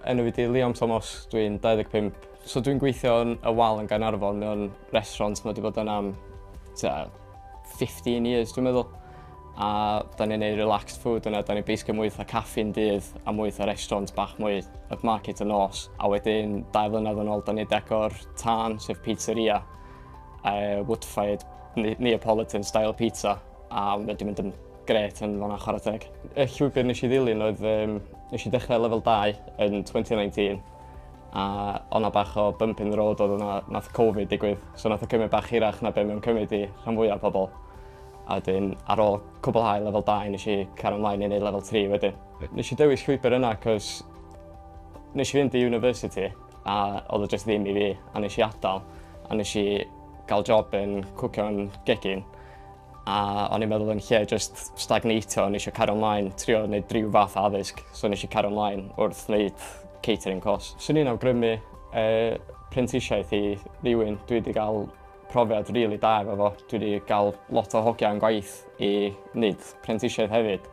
Enw fi di Liam Thomas, dwi'n 25. So dwi'n gweithio yn y wal yn Gaernarfon mewn restaurant mae wedi bod yn am 15 years dwi'n meddwl. A da ni'n neud relaxed food yna, da ni'n basically mwy fatha caffi'n dydd a mwy fatha restaurant bach mwy upmarket y nos. A wedyn dau flynedd yn ôl da ni'n decor tân sef pizzeria, uh, wood-fired Neapolitan style pizza. A mae wedi mynd yn gret yn fan'na chwarae teg. Y llwybr nes i ddilyn oedd um, nes i dechrau lefel 2 yn 2019 a o'na bach o bump in the road oedd o'na nath Covid digwydd so nath o cymryd bach hirach na be mae'n cymryd i rhan fwyaf pobl. A wedyn ar ôl cwblhau lefel 2 nes i cario ymlaen i wneud lefel 3 wedyn. Nes i dewis llwybr yna cos nes i fynd i university a oedd o jyst ddim i fi a nes i adael a nes i gael job yn cwcio yn gegin. A o'n i'n meddwl yn lle just stagnatio, o'n eisiau cario ymlaen, trio wneud rhyw fath addysg, so o'n eisiau cario ymlaen wrth wneud catering course. Swn i'n awgrymu e, prentisiaeth i rywun, dwi wedi cael profiad rili really da efo fo. Dwi wedi cael lot o hogiau yn gwaith i wneud prentisiaeth hefyd.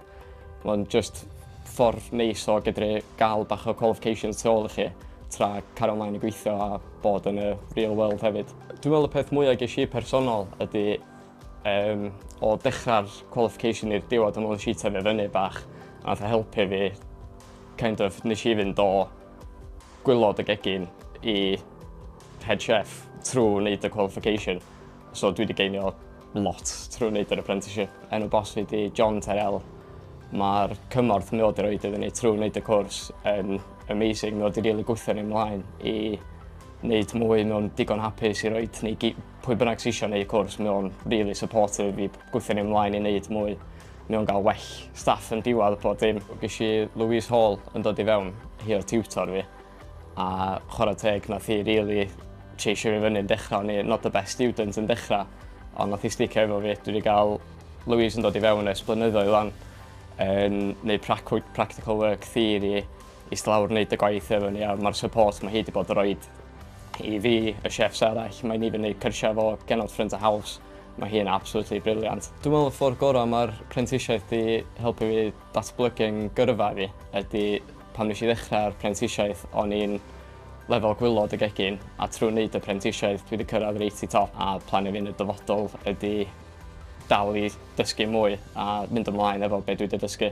Mae'n just ffordd neis o gydru gael bach o qualifications tu ôl i chi tra cario ymlaen i gweithio a bod yn y real world hefyd. Dwi'n meddwl y peth mwyaf ges i personol ydy um, o dechrau'r qualification i'r diwedd o'n si tyfu fyny bach a nath e helpu fi kind of nes i fynd o gwylod y gegin i head chef trwy wneud y qualification. So dwi wedi geinio lot trwy wneud yr apprenticeship. Enw bos fi di John Terrell. Mae'r cymorth mi oedd i roed iddyn ni trwy wneud y cwrs yn amazing. Mi oedd i rili gwythio ni ymlaen i wneud mwy. Mi o'n digon hapus i roi ni pwy bynnag sy'n eisiau gwneud y cwrs. Mi o'n really supportive i gwythio ni ymlaen i wneud mwy. Mi o'n gael well staff yn diwedd y pob dim. Gysi Louise Hall yn dod i fewn, hi o'r tutor fi. A chwarae teg nath hi rili cheisio fi fyny yn dechra, o'n i not the best student yn dechra, ond nath hi sticio efo fi. Dwi wedi cael Louise yn dod i fewn ers blynyddoedd lan, yn neud practical work theory, eist lawr neud y gwaith efo ni, a mae'r support mae hi wedi bod yn rhoi i fi, y chefs arall, mae'n even neud cyrsiau fo genod ffrind a haws. Mae hi'n absolutely brilliant. Dwi'n meddwl y ffordd gorau mae'r prentisiaeth di helpu fi Datblygu'n gyrfa fi ydy pan nes i ddechrau'r prentisiaeth o'n i'n lefel gwylod y gegin a trwy wneud y prentisiaeth dwi wedi cyrraedd reit i top a plan i fi yn y dyfodol ydy dal i dysgu mwy a mynd ymlaen efo be dwi wedi dysgu.